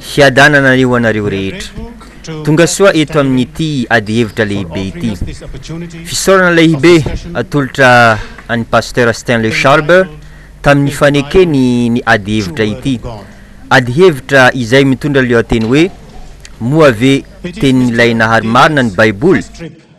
Fiadanana ho anareo rehetra. Tongasoa eto amin'ity ady hevitra lehibe ity. Fisaorana lehibe atolotra an'i Pasteur Stanley Schwalbe tamin'ny fanekeny ny ady hevitra ity. Ady hevitra izay mitondra lohateny hoe Moa ve Tenin'ilay Nahary Marina ny Baiboly?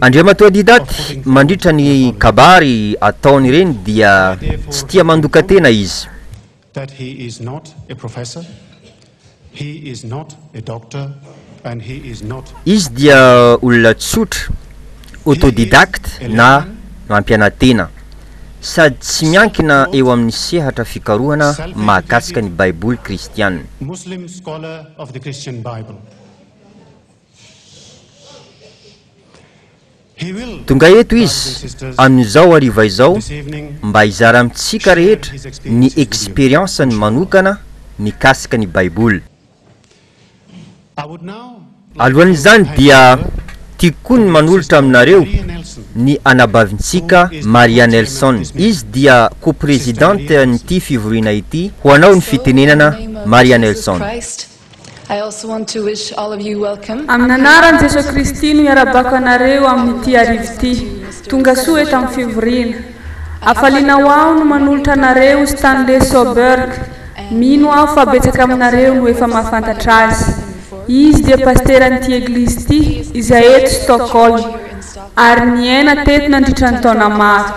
Andriamatoa Didac, mandritra ny kabary ataony ireny dia tsy tia mandoka tena izy. Izy dia olona tsotra, autodidacte na mampianatena, sady tsy miankina eo amin'ny sehatra fikarohana mahakasika ny Baiboly kristiana. Tonga eto Izy amin'izao hariva izao mba hizara amintsika rehetra ny experience-ny manokana mikasika ny Baiboly. Alohan'izany dia tiako koa ny manolotra aminareo ny anabavintsika Maria Nelson. Izy dia co-presidente-n'ity fivoriana ity. Ho anao ny fitenenana Maria Nelson. I also want to wish all of you welcome. Amin'ny anaran'i Jesoa Kristy no iarabako anareo amin'ity arivo ity. Tongasoa eto amin'ny fivoriana. Hafaliana ho aho no manolotra anareo Stanley Soberg. Mino aho fa betsaka aminareo no efa mahafantatra azy. Izy dia pasteran'ity eglizy ity, izay eto Stockholm, ary niaina teto nandritra ny taona maro.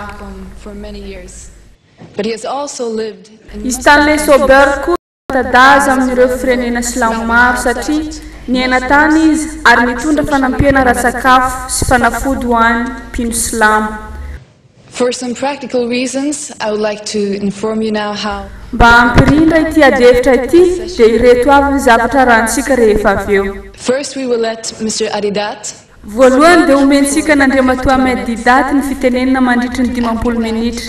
I Stanley Soberg koa. Fanta-daza amin'ireo firenena silamo maro satria niaina tany izy ary nitondra fanampiana ara-tsakafo sy fanafody ho an'ny mpino silamo. For some practical reasons, I would like to inform you now how. Mba hampirindra ity adihevitra ity dia ireto avy ny zavatra arahintsika rehefa avy eo. First we will let Mister Adedat. Voalohany dia omentsika an'Andriamatoa Ahmed Deedat ny fitenenana mandritry ny dimampolo minitra.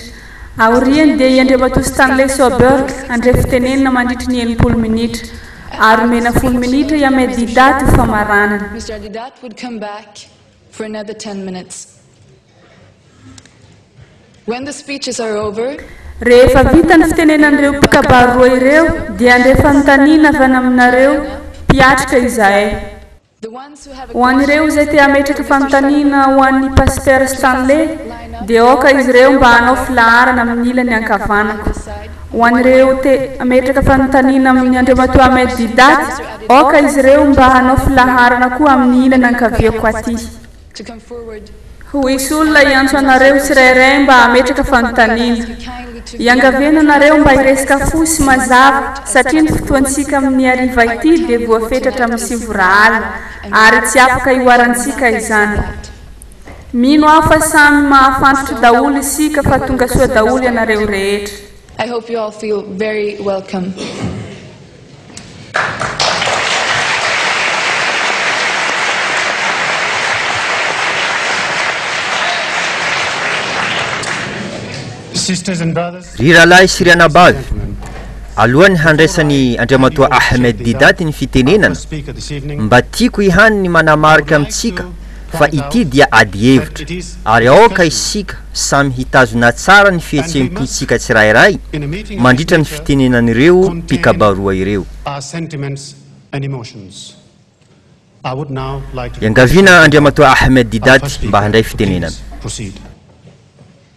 Aoriany dia i Andriamatoa Stanley Soberg handray fitenenana mandritry ny enimpolo minitra. Ary omena folo minitra i Ahmed Deedat ho famaranana. Rehefa vita ny fitenenan'ireo mpikabary roa ireo dia handray fanontaniana avy any aminareo mpiatrika izahay. Ho an'ireo izay te hametraka fanontaniana ho an'ny Pasitera Stanley, dia aoka izy ireo mba hanao filaharana amin'ny ilany ankavanako. Ho an'ireo te hametraka fanontaniana amin'i Andriamatoa Ahmed Deedat, aoka izy ireo mba hanao filaharana koa amin'ny ilany ankaviako atỳ. Ho hisy olona hiantso anareo tsirairay mba hametraka fanontaniana. Iangaviana anareo mba hiresaka fohy sy mazava satria ny fotoantsika amin'ny hariva ity dia voafetratra amin'ny sivora alina ary tsy afaka hihoarantsika izany. Mino aho fa samy mahafantatra daholo isika fa tonga soa daholo ianareo rehetra. Ry rahalahy sy ry anabavy, alohan'ny handraisan'i Andriamatoa Ahmed Deedat ny fitenenana, mba tiako ihany ny manamarika amintsika fa ity dia adihevitra ary aoka isika samy hitazona tsara ny fihetseham-pontsika tsirairay mandritra ny fitenenan'ireo mpikabaroa ireo. Iangaviana Andriamatoa Ahmed Didat mba handray fitenenana.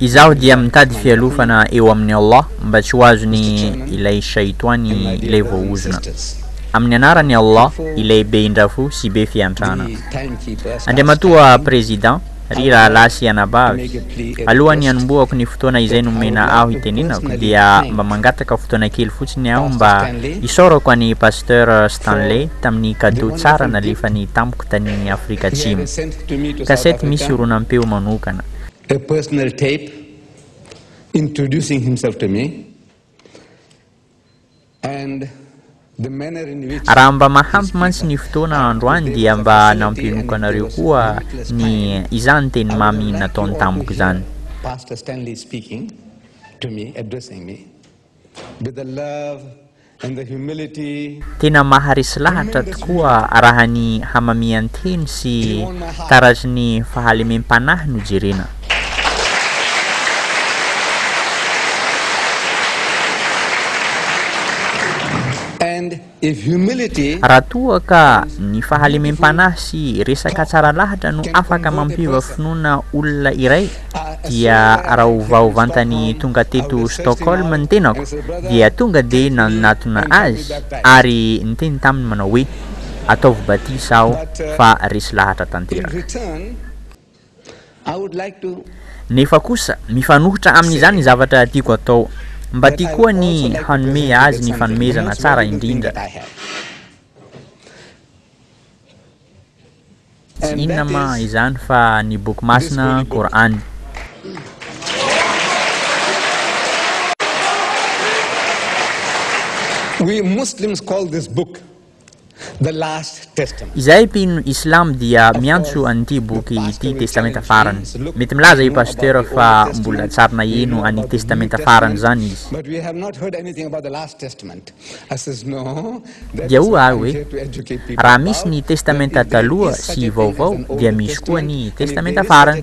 Izaho dia mitady fialofana eo amin'i Allah mba tsy ho azony ilay Shaitoany ilay voahozona. Amin'ny anaran'i Allah ilay be indrafo sy be fiantrana. Andriamatoa Président, ry rahalahy sy anabavy, alohan'ny hanombohako ny fotoana izay nomena aho hitenenako dia mba mangataka fotoana kely fotsiny aho mba hisaorako an'i Pasteur Stanley tamin'ny cadeau tsara nalefany tamiko tany Afrika Atsimo. Cassette misy horonam-peo manokana. a personal tape introducing himself to me and the manner in which Raha mba mahampy mantsy ny fotoana androany dia mba nampianoka anareo koa ny izany teny mamy nataony tamiko izany. Pastor Stanley speaking to me, addressing me. Be the love and the humility. Tena maharesy lahatra tokoa raha ny hamamian-teny sy taratrin'ny fahalemem-panahy no jerena. Raha toa ka ny fahalemem-panahy sy resaka tsara lahatra no afaka mampiova finoana olona iray dia rahovao vantany tonga teto Stockholm ny tenako dia tonga dia nanatona azy ary niteny taminy manao hoe ataovy batisa aho fa resy lahatra tanteraka Nefa kosa, mifanohitra amin'izany ny zavatra tiako atao. Mba tiako koa ny hanome azy ny fanomezana tsara indrindra. Tsy inona ma izany fa ny Boky Masina, Kor'any. Izay mpino islam dia miantso an'ity boky ity testamenta farany. Mety milaza i Pasteur fa mbola tsary naheno an'i testamenta farany zany izy. Dia hoy ahy hoe, raha misy ny testamenta taloha sy vaovao dia misy koa ny testamenta farany.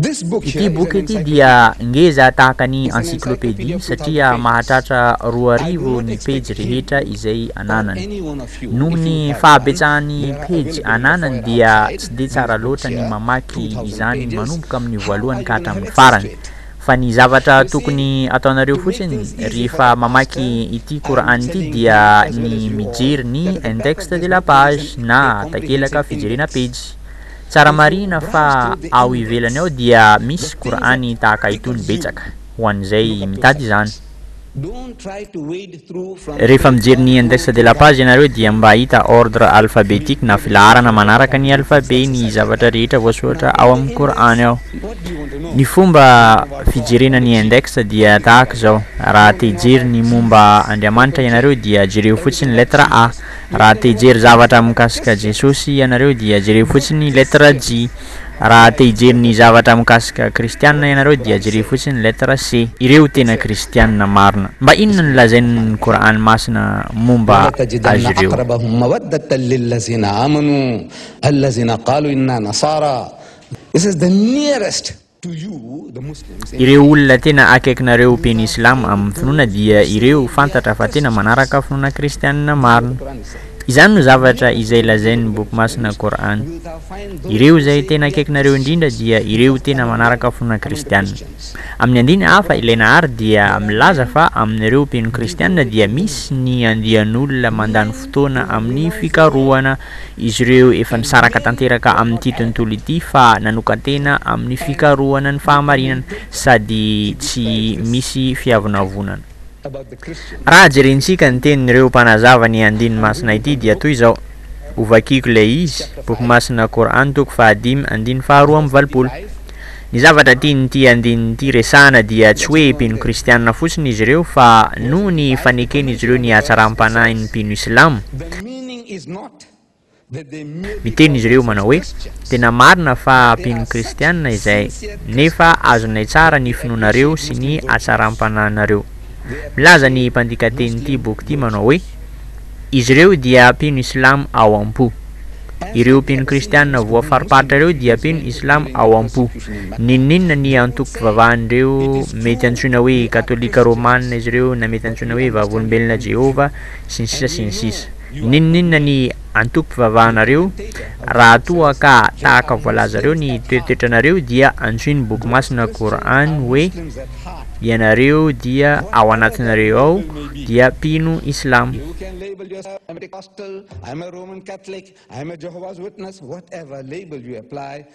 Ity boky ity dia ngeza tahaka ny encyclopédie satria mahatratra roa arivo ny pejy rehetra izay ananany. Noho ny fahabetsahan'ny pejy ananany dia tsy dia tsara loatra ny mamaky izany manomboka amin'ny voalohany ka hatramin'ny farany. Fa ny zavatra tokony ataonareo fotsiny rehefa mamaky ity Qur'an ity dia ny mijery ny index de la page na takelaka fijerena pejy. Tsara marihina fa ao ivelany ao dia misy Kor'any tahaka itony betsaka ho an'izay mitady izany. Rehefa mijery ny Index de la Page ianareo dia mba hahita ordre alphabetique na filaharana manaraka ny alphabet ny zavatra rehetra voasoratra ao amin'ny Kor'any ao. Ny fomba fijerena ny Index dia tahaka izao, raha te hijery ny momba Andriamanitra ianareo dia jereo fotsiny lettre A, Raha te hijery zavatra mikasika Jesosy ianareo dia jereo fotsiny ny lettre J. Raha te hijery ny zavatra mikasika Kristianina ianareo dia jereo fotsiny ny lettre C. Ireo tena Kristianina marina. Mba inona no lazain'ny Kor'any masina momba azy ireo? Ireo olona tena akaikinareo be ny Silamo amin'ny finoana dia ireo fantatra fa tena manaraka finoana kristianina marina. Izany no zavatra izay lazain'ny Boky masina Kor'any. Ireo izay tena akaikinareo indrindra dia ireo tena manaraka finoana kristianina. Amin'ny andiny hafa ilay Nahar dia milaza fa amin'ireo mpino kristianina dia misy ny andian'olona mandany fotoana amin'ny fikarohana izy ireo efa nisaraka tanteraka amin'ity tontolo ity fa nanokan-tena amin'ny fikarohana ny fahamarinana sady tsy misy fiavonavonana. Raha jerentsika ny tenin'ireo mpanazava ny andininy masina ity dia toy izao, Hovakiko ilay izy, Boky Masina Qur'an toko fahadimy andininy faharoa amby valopolo. Ny zavatra tian'ity andininy ity resahana dia tsy hoe mpino kristiana fotsiny izy ireo fa noho ny faneken'izy ireo ny hatsaram-panahin'ny mpino islamo, Miteny izy ireo manao hoe, Tena marina fa ampian'ny Kristianina izay, nefa azonay tsara ny finoanareo sy ny hatsaram-panahinareo. Milaza ny mpandika tenin'ity boky ity manao hoe, Izy ireo dia mpino Islamo ao am-po. Ireo mpino kristianina voafariparitra ireo dia mpino Islamo ao am-po. Ninoninona ny antokom-pivavahan'ireo mety antsoina hoe Katolika Romana izy ireo na mety antsoina hoe Vavolombelona Jehovah sy ny sisa sy ny sisa. N'inon'inona ny antokom-pivavahanareo, raha toa ka tahaka voalazareo ny toetoetranareo dia antsoy ny Boky Masina Qur'an hoe, Ianareo dia ao anatinareo ao dia mpino Islamo.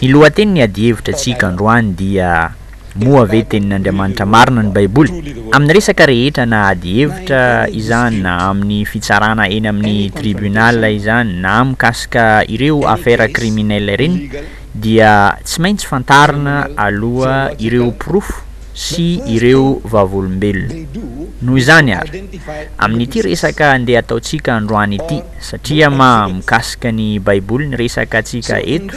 Ny lohatenin'ny adihevitra antsika androany dia Moa ve Tenin'Andriamanitra Marina ny Baiboly? Amin'ny resaka rehetra na adihevitra izany na amin'ny fitsarana eny amin'ny tribunal izany na mikasika ireo affaires criminelles ireny dia tsy maintsy fantarina aloha ireo porofo sy ireo vavolombelona. Noho izany ary, amin'ity resaka andeha ataontsika androany ity, satria maha mikasika ny Baiboly ny resaka antsika eto,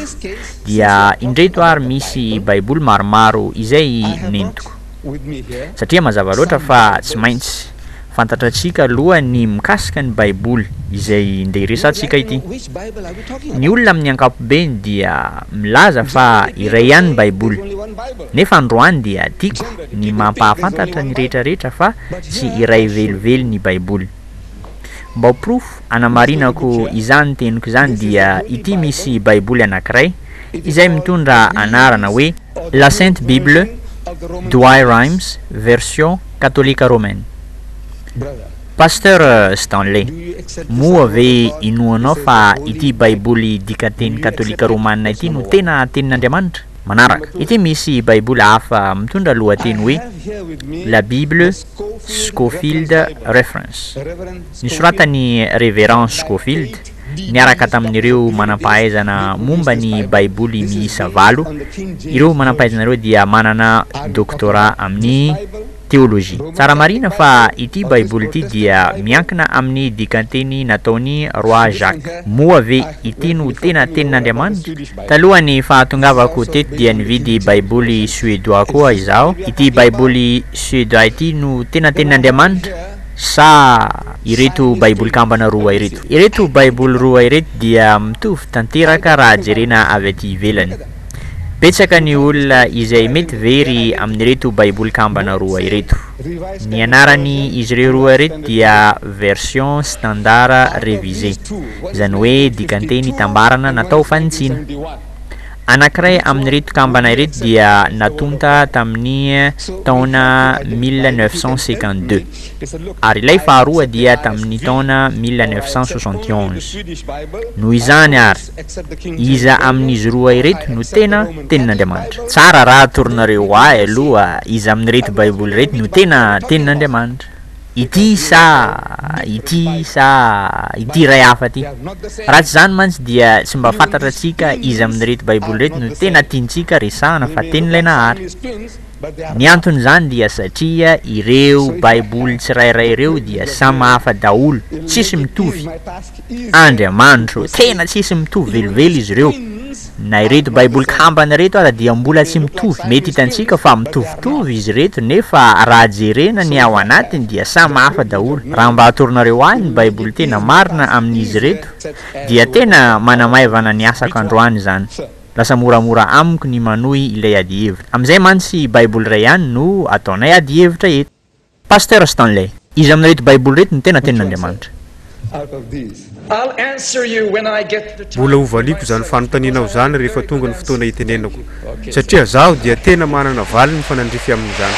dia indreto ary misy Baiboly maromaro izay nentiko, satria mazava loatra fa tsy maintsy. fantatratsika aloha ny mikasika ny Baiboly izay ndeha hiresahantsika ity. Ny olona amin'ny ankapobeny dia milaza fa iray ihany ny Baiboly. Nefa androany dia tiako ny mampahafantatra ny rehetrarehetra fa tsy iray velively ny Baiboly. Mba ho porofo hanamarinako izany teniko izany dia ity misy Baiboly anankiray izay mitondra anarana hoe La Sainte Bible, Douay-Rheims, version Katolika Romaine. Pasteur Stanley, moa ve inoanao fa ity Baiboly dikan-teny Katolika Romana ity no tena Tenin'Andriamanitra? Manaraka. Ity misy Baiboly hafa mitondra lohateny hoe La Bible Scofield Reference. Nisoratan'i Reverend Scofield niaraka tamin'ireo manam-pahaizana momba ny Baiboly miisa valo. Ireo manam-pahaizana ireo dia manana doktora amin'ny teolojia. Tsara marina fa ity Baiboly ity dia miankina amin'ny dikan-teny nataon'i Roi Jacques. Moa ve ity no tena Tenin'Andriamanitra? Talohan'ny fahatongavako teto dia nividy Baiboly Suédois koa izaho. Ity Baiboly Suédois ity no tena Tenin'Andriamanitra? sa ireto Baiboly kambana roa ireto? Ireto Baiboly roa ireto dia mitovy tanteraka raha jerena avy aty ivelany. Betsaka ny olona izay mety very amin'ireto Baiboly kambana roa ireto. Ny anarany izy ireo roa ireto dia Version Standard Révisé, izany hoe dikanteny itambarana natao fanitsiana. Anankiray amin'ireto kambana ireto dia natonta tamin'ny taona mille neuf cent cinquante-deux, ary ilay faharoa dia tamin'ny taona mille neuf cent soixante et onze. Noho izany àry, iza amin'izy roa ireto no tena Tenin'Andriamanitra? Tsara raha atoronareo ho ahy aloha iza amin'ireto Baiboly ireto no tena Tenin'Andriamanitra. Ity sa ity sa ity iray hafa ity? Raha tsy izany mantsy dia tsy mba fantatra antsika iza amin'ireto Baiboly ireto no tena tiantsika resahana fa Tenin'ilay Nahary. Ny anton'izany dia satria ireo Baiboly tsirairay ireo dia samy hafa daholo, tsisy mitovy. Andriamanitro, tena tsisy mitovy velively izy ireo. Na ireto baiboly kambana ireto ara dia mbola tsy mitovy, mety hitantsika fa mitovitovy izy ireto nefa raha jerena ny ao anatiny dia samy hafa daholo, raha mba atoronareo ahy ny baiboly tena marina amin'izy ireto dia tena manamaivana ny asako androany izany, lasa moramora amiko ny manohy ilay adihevitra, amin'izay mantsy baiboly iray ihany no ataonay adihevitra eto. Pasteur Stanley. Iza amin'ireto baiboly ireto no tena tenin'Andriamanitra? Mbola ho valiako izany fanontanianao izany rehefa tonga ny fotoana hitenenako, satria zaho dia tena manana valiny mifanandrify amin'izany.